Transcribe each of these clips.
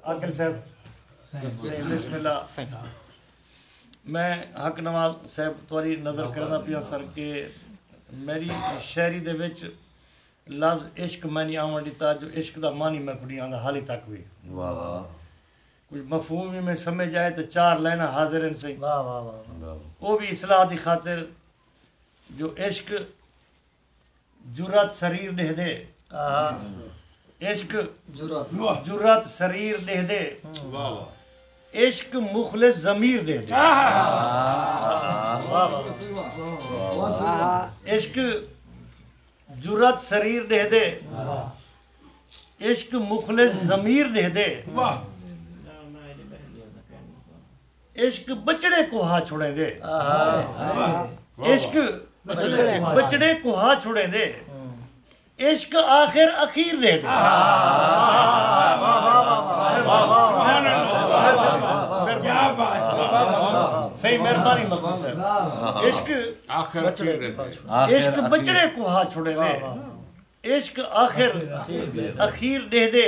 عاقل صاحب بسم اللہ میں حق نواز صاحب تواری نظر کرنا پیا سر کہ میری شاعری دے وچ لفظ عشق میں نہیں آون ڈتا جو عشق دا معنی میں کوئی آندا حالی تک بھی واہ واہ کچھ مفہوم بھی میں سمجھ آئے تو چار لائناں حاضر ہیں صحیح واہ واہ واہ وہ بھی اصلاح دی خاطر جو عشق جرات سریر ݙیہدے عشق جرات سریر ݙیہدے عشق مخلص ضمیر ݙیہدے عشق جرات سریر ݙیہدے عشق مخلص ضمیر ݙیہدے عشق ٻچڑے کوہا چھڑیندے۔ عشق ٻچڑے کوہا چھڑیندے۔ عشق آخر اخیر ݙیہدے۔ عشق ٻچڑے کوہا چھڑیندے۔ عشق آخر اخیر ݙیہدے۔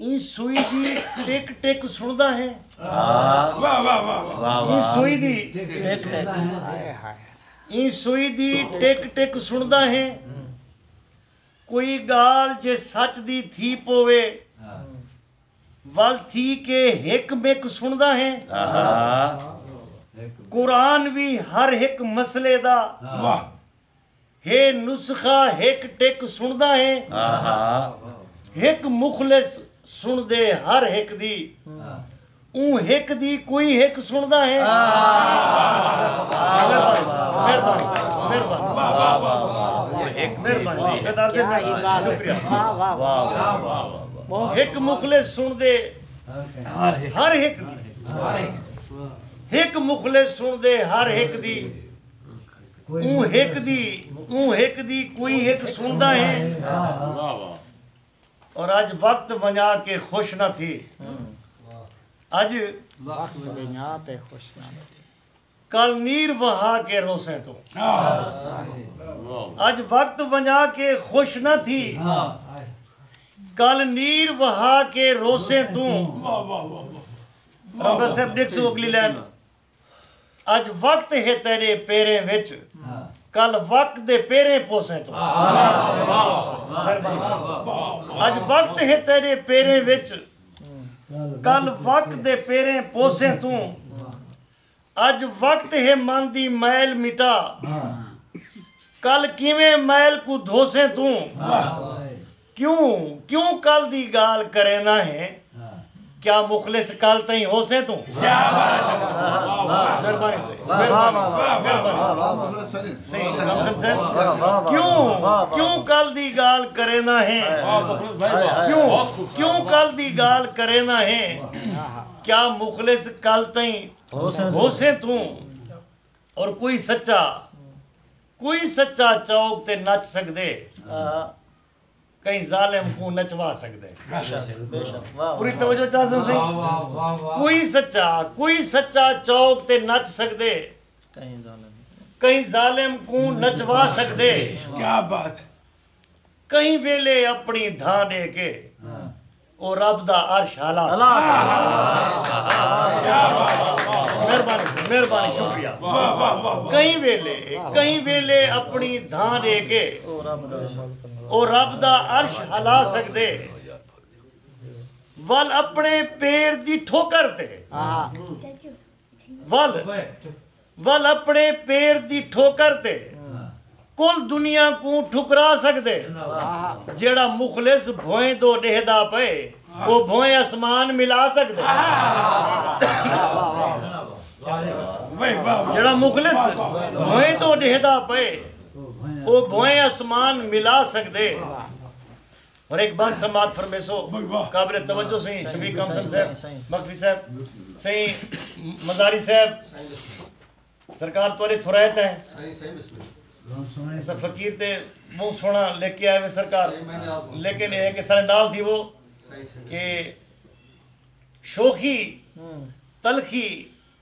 ایں سوئی دی ٹک ٹک سنڑدا ہیں ایں سوئی دی ایں سوئی دی ٹک ٹک سنڑدا ہیں کوئی گالھ جے سچ دی تھی پووے ول تھی کے ہک مک سنڑدا ہیں قرآن وی ہر ہک مسئلے دا ہے نسخہ ہک ٹک سنڑدا ہیں ہک مخلص سنڑدے ہر ہک دی اوں ہک دی کوئی ہک سنڑدا ہیں ہک مخلص سنڑدے ہر ہک دی ہک مخلص سنڑدے ہر ہک دی اوں ہک دی اوں ہک دی کوئی ہک سنڑدا ہیں اور اج وقت ونجا کے خوش نہ تھی اج وقت ونجا تے خوش نہ تھی کل نیر وہا کے روسیں توں اج وقت ونجا کے خوش نہ تھی کل نیر وہا کے روسیں توں رب صاحب دیکھ سو اگلی لین اج وقت ہے تیرے پیریں وچ کل وقت دے پیریں پوسیں توں اج وقت ہے تیرے پیریں وچ کل وقت دے پیریں پوسیں توں اج وقت ہے من دی میل مٹا کل کیویں میل کوں دھوسیں توں کیوں کیوں کل دی گالھ کرینداں ہیں کیا مخلص کل تئیں ہوسیں توں کیوں کیوں کل دی گالھ کرینداں ہیں کیوں کیوں کل دی گالھ کرینداں ہیں کیا مخلص کل تئیں ہوسیں توں اور کوئی سچا کوئی سچا چوک تے نچ سگدے ء کہیں ظالم کوں نچوا سگدے پوری توجہ چا سا سئیں کوئی سچا کوئی سچا چوک تے نچ سگدے کہیں ظالم کوں نچوا سگدے کہیں ویلے اپنی دھاں ڈے کے او رب دا عرش ہالا سی۔ مہربانی سر مہربانی شکریہ کہیں ویلے کہیں ویلے اپنی دھاں ڈے کے او رب دا عرش ہلا سکدے ول اپنے پیر دی ٹھوکر تے ول ول اپنڑے پیر دی ٹھوکر تے کل دنیا کوں ٹھکرا سگدے۔ جیہڑا مخلص بھوئیں دو ڈیہدا پئے او بھوئیں اسمان ملا سگدے۔ جیہڑا مخلص بھوئیں دو ڈیہدا پئے او بھوئیں اسمان ملا سگدے۔ ہر ہک بات سماعت فرمیسو قابل توجہ سئیں شفیق کامسن صاحب مکفی صاحب سئیں مزاری صاحب سرکار توالی تھرائے تھے اسا فقیر تے بہت سونا لے کے آئے ہوئے سرکار لیکن یہ ہے کہ سارے نال تھی وہ کہ شوخی تلخی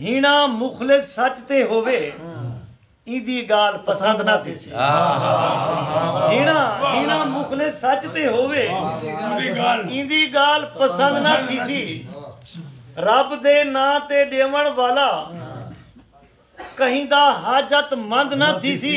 ہیݨا مخلص سچ تے ہووے ایندی ڳالھ پسند نہ تھیسی ہیݨا ہیݨا مخلص سچ تے ہووے ایندی ڳالھ پسند نہ تھیسی رب دے ناں تے ݙیوݨ والا کہیں دا حاجت مند نہ تھیسی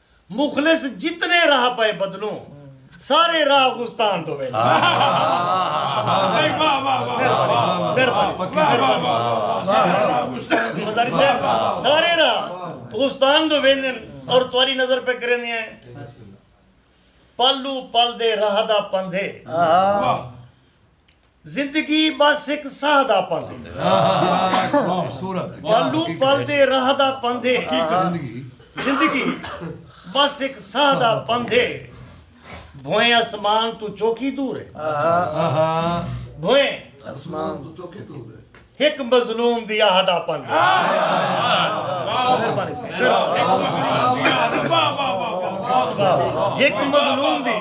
مخلص جتنے راہ پئے بدلوں سارے راہ غستان توں ویندے سارے راہ غستان توں ویندے اور تہاڈی نظر پہ کریندے ہیں پل او پل دے راہ دا پندھے زندگی بس ہک ساہ دا پندھ ہے۔ پلوں پل دے راہ دا پندھ ہے۔ زندگی بس ہک ساہ دا پندھ ہے۔ بھوئیں اسمان توں چوکی دور ہے۔ بھوئیں۔ ہک مظلوم دی آہد آپن ہک مظلوم دی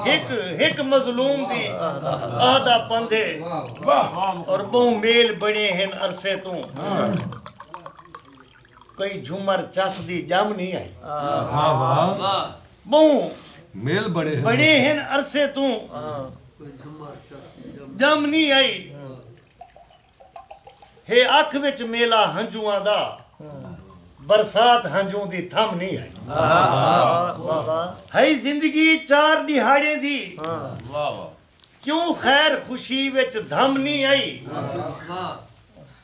ہک ہک مظلوم دی آہدہ پندھے اور بہوں میل بنے ہیں عرصے توں کئی جھمر چس دی ڄم نی آئی۔ واہ واہ ٻہوں میل بݨے ہن بݨے ہن عرصے توں کئی جھمر چس دی ڄم نی آئی۔ ہے اکھ وچ میلا ہنجواں دا برسات ہنجوں دی تھم نی آئی۔ ہئی زندگی چار ݙیہاڑیں دی کیوں خیر خوشی وچ دھم نی آئی۔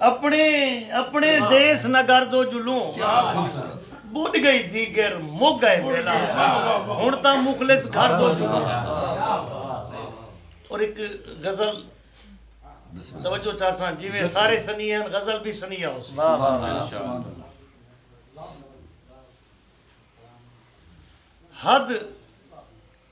اپݨے اپݨے دیس نگر دو جلوں ٻݙ ڳئی دیگر مک ڳئے ویلا ہݨ تاں مخلص گھر دو جلوں اور اک غزل توجہ چاساں جیویں سارے سنی ہن غزل بھی سنی آؤ حد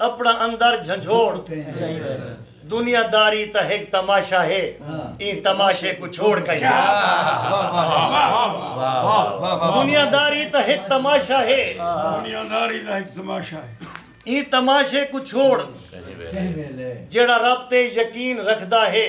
اپݨا اندر جھنجھوڑ دنیا داری تاں ہک تماشہ ہے ایں تماشے کوں چھوڑ کہیں دنیا داری تاں ہک تماشہ ہے ایں تماشے کوں چھوڑ جیڑھا رب تے یقین رکھدا ہے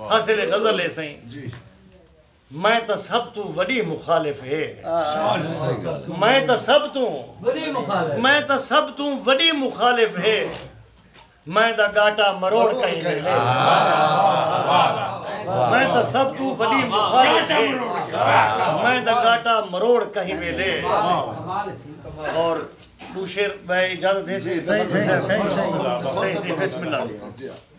حاصل غزل ہے سائیں میں تاں سب توں وڈی مخالف ہے میں تاں سب توں میں تاں سب توں وڈی مخالف ہے میں دا گاٹا مروڑ کہیں لے لے میں تاں سب توں وڈی مخالف ہے میں دا گاٹا مروڑ کہیں لے لے اور دوشیر بھائی اجازت ہے سائیں سائیں سائیں سائیں بسم اللہ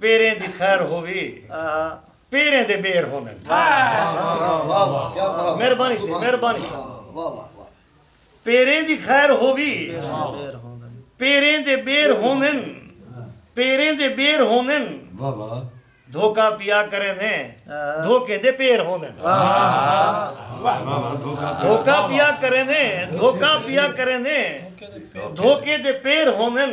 پیریں دی خیر ہووی پیریں دے بیر ہوندن مہربانی سے مہربانی پیریں دی خیر ہووی پیریں دے بیر ہوندن پیریں دے بیر ہوندن دھوکا پیا کریں دے دھوکے دے پیر ہوندن دھوکا پیا کریں دے دھوکا پیا کریں دے دھوکے دے پیر ہوندن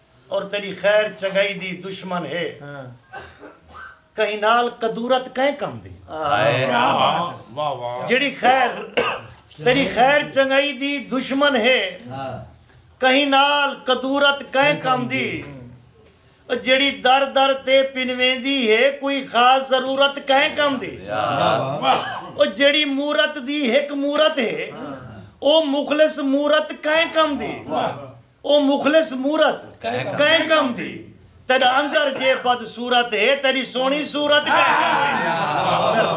اور تیݙی خیر چنڳائی دی دشمن ہے کہیں نال کدورت کئیں کم دی جیڑھی خیر تیݙی خیر چنڳائی دی دشمن ہے کہیں نال کدورت کئیں کم دی او جیڑھی در در تے پنویندی ہے کوئی خاص ضرورت کئیں کم دی او جیڑھی مورت دی ہک مورت ہے او مخلص مورت کئیں کم دی او مخلص مورت کئیں کم دی تیݙا اندر جے بد صورت ہے تیݙی سوہݨی صورت کئیں کم دی۔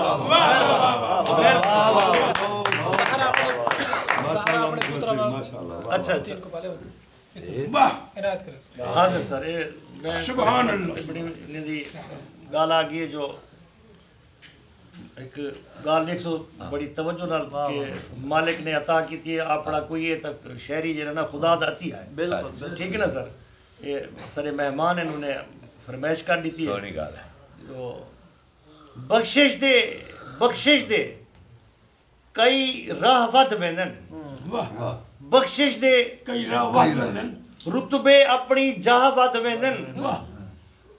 ہک گالھ ݙیکھسو بڑی توجہ نال کہ مالک نے عطا کیتی ہے آپڑاں کوئی ہے تاں شہری جیڑھا نا خدا دا عطیہ ہے بالکل ٹھیک ہے نا سر اے سارے مہمان ہیں انہوں نے فرمائش کر ڈیتی ہے سونی گالھ ہے بخشش دے بخشش دے کئی راہ ودھ ویندن۔ بخشش دے کئی راہ ودھ ویندن۔ رتبے اپݨی جاہ ودھ ویندن۔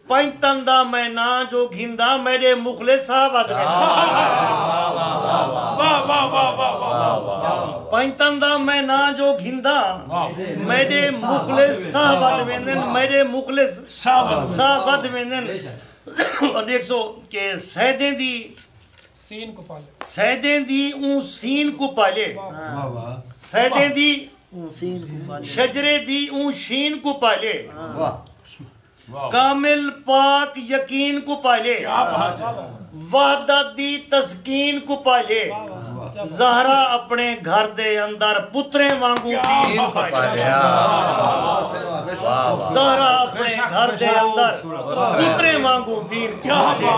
پنج تن دا میں ناں جو گھندا میݙے مغلے ساہ ودھ ویندن۔ پنج تن دا میں ناں جو گھندا میݙے مغلے ساہ ودھ ویندن۔ میݙے مغلے ساہ ودھ ویندن۔ ݙیکھسو کہ سیدیں دی سین کوں پالے۔ سیدیں دی اوں سین کوں پالے۔ سیدیں دی اوں سین کوں پالے۔ شجرے دی اوں شین کوں پالے۔ کامل پاک یقین کوں پالے۔ وحدت دی تسکین کوں پالے۔ زہرا اپݨے گھر دے اندر پتریں وانگوں دین پالیا زہرا اپݨے گھر دے اندر پتریں وانگوں دین پالیا